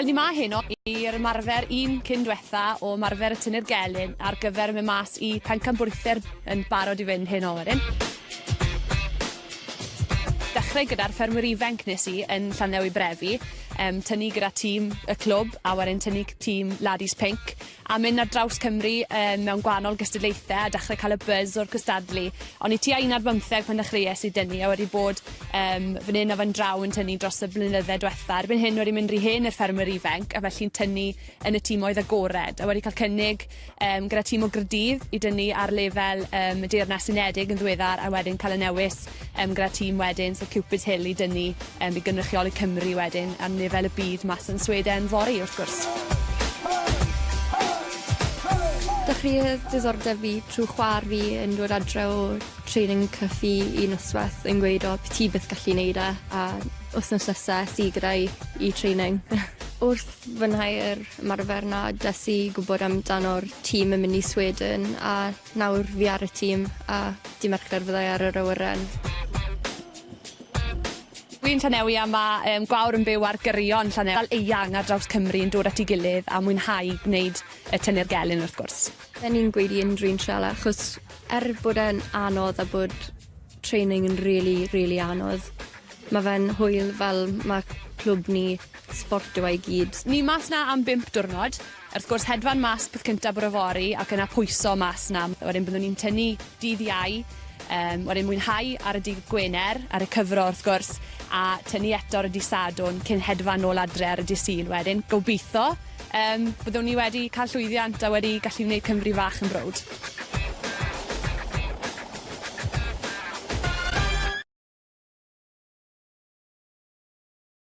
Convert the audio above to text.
Wel ni 'ma heno i'r ymarfer un cyn dwetha o ymarfer y tynnu'r gelyn ar gyfer mynd mas i pencampwriaethau'r yn barod i fynd heno wedyn. Dechrau gyda'r ffermwyr ifenc nes i yn Llandewi Brefi, um, tynnu gyda tîm y clwb a wedyn tynnu tîm Laddies Pink a mynd ar draws Cymru yym mewn gwahanol gystadlaethe a dechre ca'l y buzz o'r cystadlu. O'n i tua un ar bymtheg pan ddechreues i dynnu a wedi bod yym fan 'yn a fan draw yn tynnu dros y blynydde dwetha. Erbyn hyn wedi mynd ry hen i'r ffermwyr ifenc a felly'n tynnu yn y timoedd agored a wedi ca'l cynnig yym gyda tîm o Grydydd i dynnu ar lefel yym y Deyrnas Unedig yn ddiweddar a wedyn ca'l y newis yym gyda tîm wedyn, so Cupid's Hill i dynnu yym i gynrychioli Cymru wedyn ar lefel y byd mas yn Sweden fory wrth gwrs. Dechreuodd diddordeb fi trw chwa'r fi yn dod adre o training cyff i i nosweth yn gweud o ti byth gallu neud e a wthnos nesa es i gyda 'i i training. Wrth fwynhau yr ymarfer 'na des i gwbod amdano'r tîm yn myn i Sweden a Nawr fi ar y tîm a dy' Mercher fyddai ar yr awyren. Wi yn Llanelwy a ma' yym gwawr yn byw ar gyrion Llanel- fel eang ar draws Cymru yn dod at 'i gilydd a mwynhau gwneud yy tynnu'r gelyn wrth gwrs. Fe ni'n gweud i unrhyw un triala achos er bod e'n anodd a bod training yn rili rili anodd ma' fe'n hwyl fel ma' clwb ni sbort yw e i gyd. Ni mas 'na am bump diwrnod. Wrth gwrs, hedfan mas peth cyntaf bore fory ac yna pwyso mas 'na. Wedyn byddwn ni'n tynnu dydd Iau, yym wedyn mwynhau ar y dydd Gwener, a recyfro wrth gwrs, a tynnu eto ar y dydd Sadwrn cyn hedfan nôl adre ar y dydd Sul wedyn. Gobeitho, yym, byddwn ni wedi cael llwyddiant a wedi gallu wneud Cymru fach yn browd.